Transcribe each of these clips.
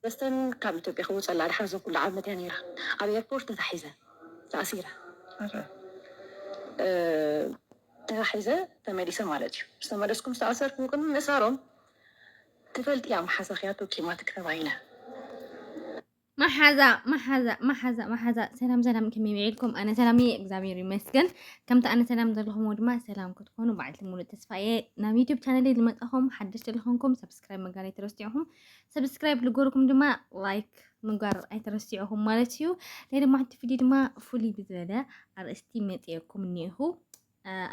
መስተን ካብ ኢትዮጵያ ክውፀላ ድሓር ዘኩሉ ዓመት እያ ነይራ ኣብ ኤርፖርት ተታሒዘ ተኣሲረ ተታሒዘ ተመሊሰ ማለት እዩ ዝተመለስኩም ዝተኣሰርኩም ቅድሚ ምእሳሮም ትፈልጥያ መሓዛ ክያቶ ኪማትክ ተባሂለ መሓዛ መሓዛ መሓዛ መሓዛ ሰላም ሰላም ከመይ ውዒልኩም? ኣነ ሰላም እየ እግዚኣብሔር ይመስገን። ከምቲ ኣነ ሰላም ዘለኹምዎ ድማ ሰላም ክትኾኑ በዓልቲ ሙሉእ ተስፋ እየ። ናብ ዩቱብ ቻነለይ ዝመጣኹም ሓደሽቲ ዝኾንኩም ሰብስክራይብ ምግባር ኣይትረስዑኹም። ሰብስክራይብ ልገርኩም ድማ ላይክ ምግባር ኣይትረስዑኹም ማለት እዩ። ናይ ድማ ሓንቲ ቪድዮ ድማ ፍሉይ ብዝበለ ኣርእስቲ መፅየኩም እኒኹ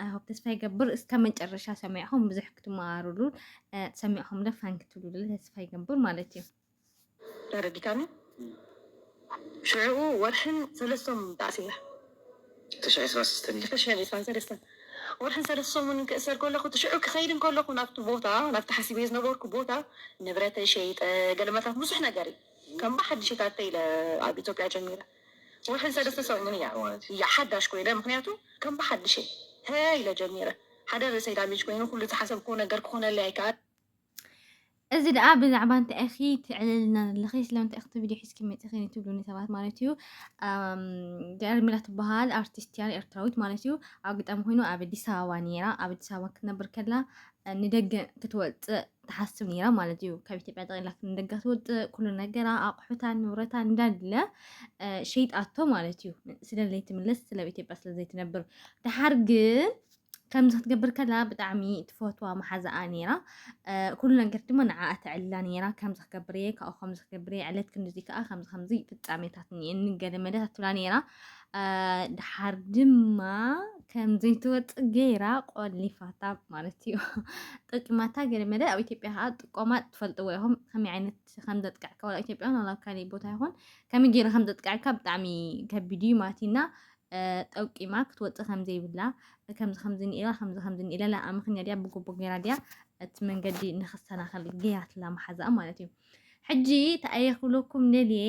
ኣይሆፕ ተስፋ ይገብር እስከ መጨረሻ ሰሚዕኹም ብዙሕ ክትመሃሩሉን ሰሚዕኹም ለፋን ክትብሉሉ ተስፋ ይገብር ማለት እዩ። ተረዲካኒ ሽዑኡ ወርሕን ሰለስቶምን ተኣሲረ። ትሽሕን ዕስራን ሰለስተን እዩ። ትሽሕን ዕስራን ሰለስተን ወርሕን ሰለስተ ሰሙንን ክእሰር ከለኹ እቲ ሽዑ ክኸይድ እንከለኹ ናብቲ ቦታ ናብቲ ሓሲበዮ ዝነበርኩ ቦታ ንብረተይ ሸይጠ ገለመታት ብዙሕ ነገር እዩ ከም ብሓድሽ ታተይ ኢለ ኣብ ኢትዮጵያ ጀሚረ ወርሕን ሰለስተ ሰሙን እያ እያ ሓዳሽ ኮይነ ምክንያቱ ከም ብሓድሽ እየ ሀ ኢለ ጀሚረ ሓደ ርእሰይ ዳሜጅ ኮይኑ ኩሉ ዝሓሰብክዎ ነገር ክኾነለይ ኣይከኣል እዚ ደኣ ብዛዕባ እንታይ ኢኺ ትዕልልና ዘለኺ ስለምንታይ ኢኺ ቪድዮ ሒዝኪ መፂኺ ትብሉኒ ሰባት ማለት እዩ ገርሚላ ትበሃል ኣርቲስት እያ ኤርትራዊት ማለት እዩ ኣብ ግጣሚ ኮይኑ ኣብ ኣዲስ ኣበባ ነይራ ኣብ ኣዲስ ኣበባ ክትነብር ከላ ንደገ ክትወፅእ ትሓስብ ነይራ ማለት እዩ ካብ ኢትዮጵያ ጠቕላ ንደገ ክትወፅእ ኩሉ ነገራ ኣቑሑታ ንብረታ እንዳለ ሸይጣቶ ማለት እዩ ስለዘይትምለስ ስለ ኢትዮጵያ ስለዘይትነብር ድሓር ግን ከምዚ ክትገብር ከላ ብጣዕሚ ትፈትዋ መሓዛኣ ነይራ ኩሉ ነገር ድማ ንዓኣ ተዕልላ ነይራ ከምዚ ክገብር እየ ካብኡ ከምዚ ክገብር እየ ዕለት ክንድዚ ከዓ ከምዚ ከምዚ ፍፃሜታት እኒአኒ ገለ መለ ትብላ ነይራ ድሓር ድማ ከምዘይትወፅእ ገይራ ቆሊፋታ ማለት እዩ ጠቂማታ ገለ መለ ኣብ ኢትዮጵያ ከዓ ጥቆማ ትፈልጥዎ ኢኹም ከመይ ዓይነት ከም ዘጥቅዕካ ዋላ ኢትዮጵያ ዋላ ካሊእ ቦታ ይኹን ከመይ ገይሩ ከም ዘጥቅዕካ ብጣዕሚ ከቢድ እዩ ማለት እዩ እና ጠውቂማ ክትወጽእ ከምዘይብላ ከምዚ ከምዚ ኒኢራ ከምዚ ከምዚ ኒኢለላ ኣምክንያ ድያ ብጉቡእ ጌራ ድያ እቲ መንገዲ ንክሰናኸል ገይራትላ መሓዛኣ ማለት እዩ ሕጂ ተኣየ ክብለኩም ደልየ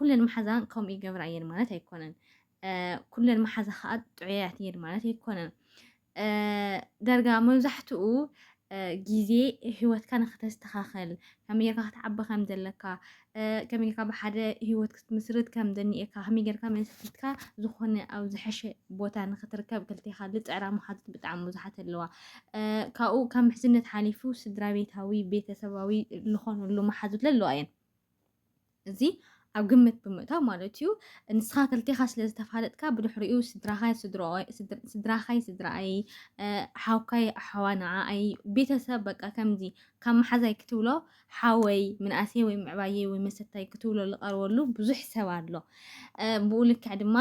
ኩለን መሓዛን ከምኡ ይገብራ እየን ማለት ኣይኮነን ኩለን መሓዛ ከዓ ጥዑያት እየን ማለት ኣይኮነን ዳርጋ መብዛሕትኡ ግዜ ህይወትካ ንኸተስተኻኸል ከመይ ጌርካ ክትዓቢ ከም ዘለካ ከመይ ጌርካ ብሓደ ህይወት ክትምስርት ከም ዘኒኤካ ከመይ ጌርካ መስኪትካ ዝኾነ ኣብ ዝሐሸ ቦታ ንኽትርከብ ክልቴኻ ዝፅዕራ መሓዙት ብጣዕሚ ብዙሓት ኣለዋ ካብኡ ካብ ምሕዝነት ሓሊፉ ስድራ ቤታዊ ቤተሰባዊ ዝኾነሉ መሓዙት ዘለዋ እየን እዚ ኣብ ግምት ብምእታው ማለት እዩ። ንስኻ ክልቴኻ ስለ ዝተፋለጥካ ብድሕሪኡ ስድራኻይ ስድሮኦይ ስድ- ስድራኻይ ስድራኣይ እ፣ ሓውካይ ኣሓዋ ንዓኣይ ቤተሰብ በቃ ከምዚ ካብ መሓዛይ ክትብሎ ሓወይ ምንኣሰይ ወይ ምዕባየይ ወይ መሰታይ ክትብሎ ዝቐርበሉ ብዙሕ ሰብ ኣሎ። እ፣ ብኡ ልክዕ ድማ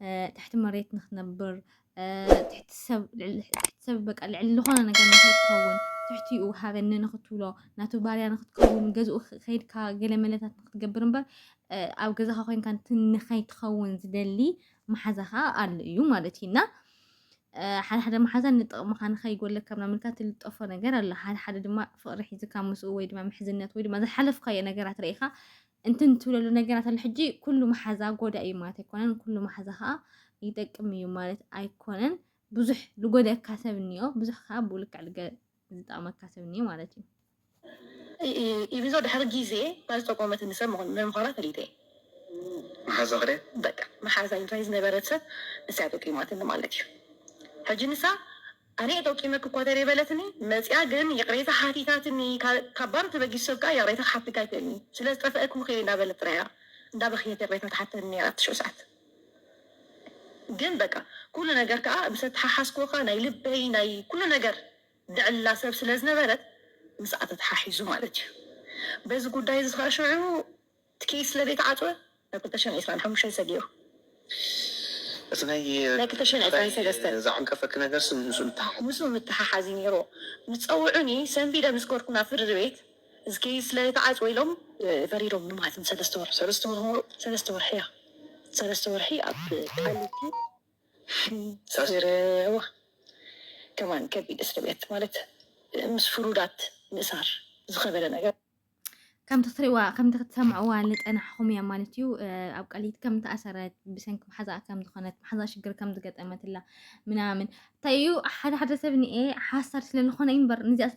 እ፣ ትሕቲ መሬት ንኽነብር ትሕቲ ሰብ ልዕሊ ዝኾነ ነገር ንክትኸውን ትሕቲኡ ሃበኒ ንክትብሎ ናቱ ባርያ ንክትከውን ገዝኡ ከይድካ ገለ መለታት ንክትገብር እምበር ኣብ ገዛኻ ኮይንካ ንከይትኸውን ዝደሊ መሓዛ ከዓ ኣሎ እዩ ማለት እዩ እና ሓደ ሓደ መሓዛ ንጥቕምኻ ንከይጎለካ ምናምን ኢልካ ትልጠፎ ነገር ኣሎ ሓደ ሓደ ድማ ፍቕሪ ሒዝካ ምስኡ ወይ ድማ ምሕዝነት ወይ ድማ ዝሓለፍካዮ ነገራት ርኢኻ እንትን ትብለሉ ነገራት ኣሎ ሕጂ ኩሉ መሓዛ ጎዳእ እዩ ማለት ኣይኮነን ኩሉ መሓዛ ከዓ ይጠቅም እዩ ማለት ኣይኮነን ብዙሕ ልጎደእካ ሰብ እኒኦ ብዙሕ ከዓ ብልክዕ ዝጠቅመካ ሰብ እኒኦ ማለት እዩ ኢብዞ ድሕሪ ግዜ ታይ ዝጠቆመት ንሰብ ምኳና ፈሊጠ መሓዛ ክደ በቃ መሓዛ ኢንታይ ዝነበረት ሰብ ንሳ ጠቂማትኒ ማለት እዩ ሕጂ ንሳ ኣነ እየ ጠቂመኪ እኳ ተሪር በለትኒ መጺኣ ግን ይቅሬታ ሓቲታትኒ ካብ ባዶ ተበጊሱ ሰብ ከኣ ይቅሬታ ክሓተካ ኣይክእልን እዩ ስለ ዝጠፈኣኪ ምክሪ እንዳበለት ጥራይ እያ እንዳበከየት ይቅሬታ ትሓተኒ ነይራ እቲ ሽዑ ሰዓት ግን በቃ ኩሉ ነገር ከኣ ምስ ኣተሓሓዝክዎ ከኣ ናይ ልበይ ናይ ኩሉ ነገር ድዕላ ሰብ ስለ ዝነበረት ምስኣ ተተሓሒዙ ማለት እዩ በዚ ጉዳይ እዚ ከኣ ሽዑ እቲ ኬዝ ስለ ዘይተዓጽወ ናይ ክልተ ሽሕን ዕስራን ሓሙሽተን ሰጊኡ። እቲ ናይ ክልተ ሽሕን ዕስራን ሰለስተን ዘዓንቀፈኪ ነገርሲ ምስኡ ምትሕሓዝ። ምስኡ ምትሕሓዝ እዩ ነይርዎ። ምስ ጸውዑኒ ሰንቢደ ምስ ገርኩ ናብ ፍርድ ቤት እዚ ኬዝ ስለ ዘይተዓጽወ ኢሎም ፈሪዶም ንማዕልቲ ንሰለስተ ወርሒ ሰለስተ ወርሒ ምሩ ሰለስተ ወርሒ እያ ሰለስተ ወርሒ ኣብ ቃሊቲ ሓጺርዋ ከማን ከቢድ እስርቤት ማለት ምስ ፍሩዳት ምእሳር ዝኸበደ ነገር። ከምቲ ክትሪእዋ ከምቲ ክትሰምዕዋ ዝፀናሕኹም እያ ማለት እዩ ኣብ ቀሊት ከም ተኣሰረት ብሰንኪ መሓዛኣ ከም ዝኾነት መሓዛ ሽግር ከም ዝገጠመትላ ምናምን እንታይ እዩ ሓደ ሓደ ሰብ ንኤ ሓሳድ ስለ ዝኾነ እዩ እምበር ንዚኣ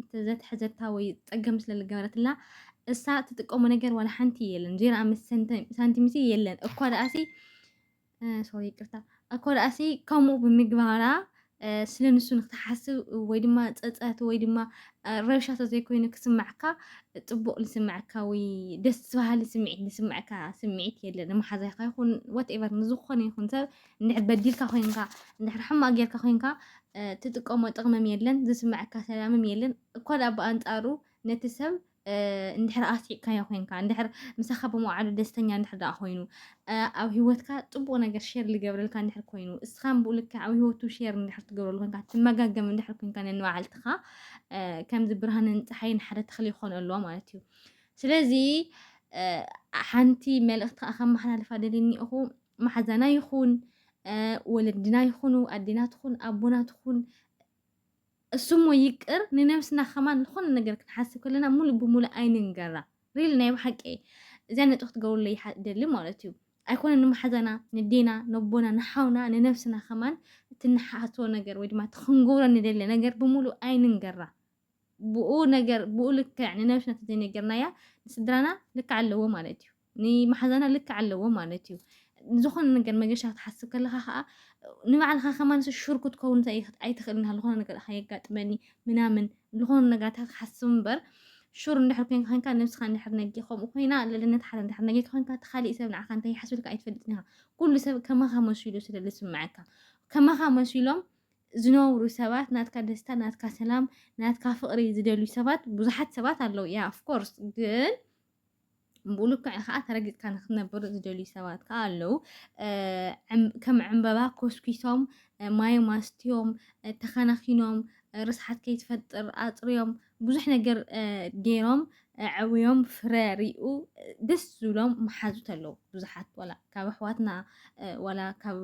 ስለዘተሐዘታ ወይ ፀገም ስለ ዝገበረትላ እሳ ትጥቀሞ ነገር ዋላ ሓንቲ የለን ዜራ ምስ ሳንቲምሲ የለን እኳ ደኣሲ ሶሪ ይቅርታ እኮ ዳእሲ ከምኡ ብምግባራ ስለ ንሱ ንክትሓስብ ወይ ድማ ፀፀት ወይ ድማ ረብሻ ተዘይኮይኑ ክስማዕካ ፅቡቅ ዝስምዐካ ወይ ደስ በሃሊ ስምዒት ዝስምዐካ ስምዒት የለን መሓዛይካ ይኹን ዋትኤቨር ንዝኾነ ይኹን ሰብ እንድሕር በዲልካ ኮይንካ እንድሕር ሕማቅ ጌርካ ኮይንካ ትጥቀሞ ጥቅምም የለን ዝስምዐካ ሰላምም የለን እኳ ዳኣ ብኣንፃሩ ነቲ ሰብ እንድሕር ኣስዒብካዮ ኮንካ እንድሕር ምሳኻ ብመውዓሉ ደስተኛ እንድሕር ደኣ ኮይኑ ኣብ ሂወትካ ጽቡቕ ነገር ሼር ዝገብረልካ እንድሕር ኮይኑ እስኻ ብኡ ልክዕ ኣብ ሂወቱ ሼር እንድሕር ትገብረሉ ኮንካ ትመጋገም እንድሕር ኮንካ ነንባዓልትኻ ከምዚ ብርሃንን ፀሓይን ሓደ ተኽሊ ይኾኑ ኣለዎ ማለት እዩ ስለዚ ሓንቲ መልእኽቲ ከዓ ከመሓላልፋ ደልኒ እኹ ማሓዛና ይኹን ወለድና ይኹኑ ኣዴና ትኹን ኣቦና ትኹን እሱሞ ይቅር ንነብስና ከማን ልኾነ ነገር ክንሓስብ ከለና ሙሉእ ብሙሉእ ኣይንንገራ ሪሊ ናይ ብሓቂ እየ እዚኣ ነጥቢ ክትገብሩለይ ይሓ እደሊ ማለት እዩ ኣይኮነን ንመሓዛና ንዴና ነቦና ንሓውና ንነብስና ከማን እቲ ንሓስቦ ነገር ወይ ድማ እቲ ክንገብሮ ንደሊ ነገር ብሙሉእ ኣይንንገራ ብኡ ነገር ብኡ ልክዕ ንነብስና ተዘይነገርናያ ንስድራና ልክዕ ኣለዎ ማለት እዩ ንማሓዛና ልክዕ ኣለዎ ማለት እዩ ዝኾነ ነገር መገሻ ክትሓስብ ከለኻ ከዓ ንባዕልኻ ከማንስ ሹር ክትከውን ኣይትኽእልን ዝኾነ ነገር ከየጋጥመኒ ምናምን ዝኾነ ነገራት ክሓስብ እምበር ሹር እንድሕር ኮይንካ ኮይንካ ነብስኻ እንድሕር ነጊ ከምኡ ኮይና ልዕልነት ሓደ እንድሕር ነጊ ኮይንካ እቲ ካሊእ ሰብ ንዓኻ እንታይ ይሓስብልካ ኣይትፈልጥን ኢኻ ኩሉ ሰብ ከማኻ መሲሉ ስለ ዝስምዐካ ከማኻ መሲሎም ዝነብሩ ሰባት ናትካ ደስታ ናትካ ሰላም ናትካ ፍቕሪ ዝደልዩ ሰባት ብዙሓት ሰባት ኣለዉ ያ ኦፍኮርስ ግን ብልክዕ ከዓ ተረጊፅካ ንክትነብር ዝደልዩ ሰባት ከዓ ኣለው ከም ዕምበባ ኮስኪሶም ማይ ማስትዮም ተኸናኺኖም ርስሓት ከይትፈጥር ኣፅርዮም ብዙሕ ነገር ገይሮም ዕውዮም ፍረ ሪኡ ደስ ዝብሎም መሓዙት ኣለው ብዙሓት ዋላ ካብ ኣሕዋትና ዋላ ካብ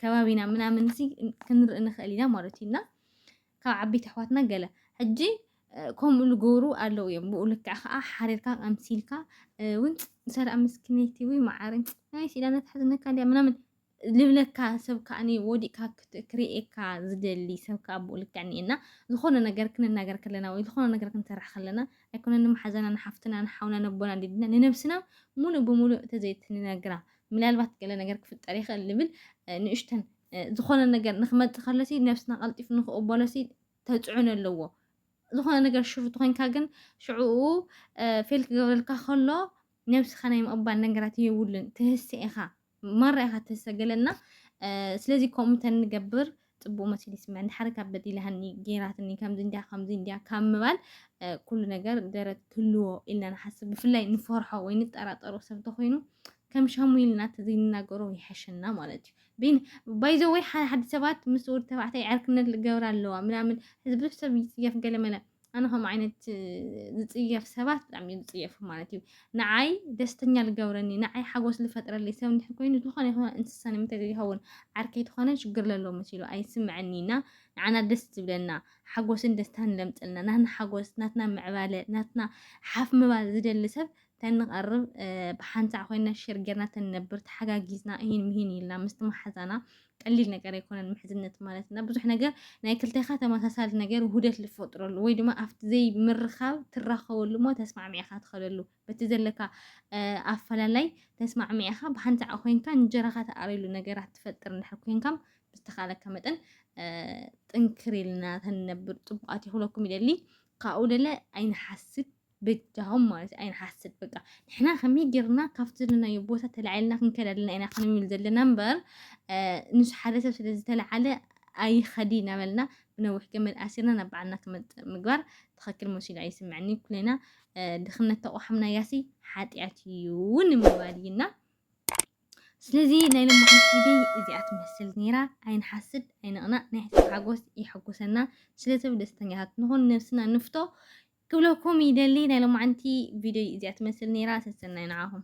ከባቢና ምናምን ሲ ክንርኢ ንኽእል ኢና ማለት እዩ እና ካብ ዓበይቲ ኣሕዋትና ገለ ሕጂ ከምኡ ልገብሩ ኣለው እዮም ብኡ ልክዕ ከኣ ሓሪርካ ኣምሲልካ ውን ሰላም ምስኪነይቲ ወይ መዓረይ ናይ ሲዳና ትሕዝነካ ድያ ምናምን ልብለካ ሰብ ከኣኒ ወዲእካ ክርእየካ ዝደሊ ሰብ ከኣ ብኡ ልክዕ እኒኤና ዝኾነ ነገር ክንናገር ከለና ወይ ዝኾነ ነገር ክንሰርሕ ከለና ኣይኮነ ንመሓዛና ንሓፍትና ንሓውና ነቦና ዲድና ንነብስና ሙሉእ ብሙሉእ ተዘይትንነግራ ምናልባት ገለ ነገር ክፍጠር ይኽእል ልብል ንእሽተን ዝኾነ ነገር ንክመፅእ ከሎሲ ነብስና ቀልጢፍ ንክቕበሎሲ ተፅዕኖ ኣለዎ ዝኾነ ነገር ሽፍት ኮንካ ግን ሽዕኡ ፌል ክገብረልካ ከሎ ነብስኻ ናይ ምቕባል ነገራት የብሉን ትህሰ ኢኻ ማራ ኢኻ ትህሰ ገለና ስለዚ ከምኡ ተንገብር ፅቡቅ መሲሉ ይስምዐኒ ሓደ ካብ በዲላሃኒ ጌራትኒ ከምዚ እንዲያ ከምዚ እንዲያ ካብ ምባል ኩሉ ነገር ደረት ክህልዎ ኢልና ንሓስብ ብፍላይ ንፈርሖ ወይ ንጠራጠሮ ሰብ ተኮይኑ ከም ሻሙ ኢልና ተዘይንናገሮ ይሓሸና ማለት እዩ ቢኒ ባይ ዘ ወይ ሓደ ሓደ ሰባት ምስ ወዲ ተባዕታይ ዕርክነት ልገብራ ኣለዋ ምናምን እዚ ብዙሕ ሰብ ይፅየፍ ገለመለ ኣነ ከምኡ ዓይነት ዝፅየፍ ሰባት ብጣዕሚ እዩ ዝፅየፉ ማለት እዩ ንዓይ ደስተኛ ልገብረኒ ንዓይ ሓጎስ ልፈጥረለይ ሰብ እንድሕር ኮይኑ ዝኾነ ይኹን እንስሳ ንምንታይ ዘይኸውን ዓርከይ ትኾነ ሽግር ለሎ መሲሉ ኣይስምዐኒ እና ንዓና ደስ ዝብለና ሓጎስን ደስታን ለምፅልና ናትና ሓጎስ ናትና ምዕባለ ናትና ሓፍ ምባል ዝደሊ ሰብ ተንቐርብ ብሓንሳዕ ኮይና ሸር ጌርና ተንነብር ተሓጋጊዝና እሂን ምሂን ኢልና ምስቲ መሓዛና ቀሊል ነገር ኣይኮነን ምሕዝነት ማለት እና ብዙሕ ነገር ናይ ክልቴኻ ተመሳሳሊ ነገር ውህደት ዝፈጥረሉ ወይ ድማ ኣብቲ ዘይምርኻብ ትራኸበሉ እሞ ተስማዕሚዕኻ ትኸደሉ በቲ ዘለካ ኣፈላላይ ተስማዕሚዕኻ ብሓንቲ ዓቕ ኮንካ እንጀራኻ ተኣርየሉ ነገራት ትፈጥር እንድሕር ኮንካ ብዝተኻለካ መጠን ጥንክር ኢልና ተንነብር ፅቡቃት ይኽለኩም ይደሊ ካብኡ ደለ ኣይንሓስብ ብጃሆም ማለት ኣይንሓስብ በቃ ንሕና ከመይ ጌርና ካብቲ ዘለናዮ ቦታ ተላዒልና ክንከድ ኣለና ኢና ክንብል ዘለና እምበር ንሱ ሓደ ሰብ ስለ ዝተለዓለ ኣይኸዲ እናበልና ብነዊሕ ገመድ ኣሲርና ናብ በዓልና ክመፅእ ምግባር ትኽክል መሲሉ ኣይስምዐኒ ኩለና ድኽነት ተቋሓምናያሲ ሓጢኣት እዩ ንምባል እዩና ስለዚ ናይ ሎሚ ሓንቲ እዚኣ ትመስል ነይራ ኣይንሓስድ ኣይንቕናእ ናይ ሕሰብ ሓጎስ ይሕጉሰና ስለሰብ ደስተኛታት ንኹን ነብስና ንፍቶ ክብለኩም ይደሊ ናይ ሎማዓንቲ ቪድዮይ እዚኣ ትመስል ነይራ ሰሰናዩ ንዓኹም።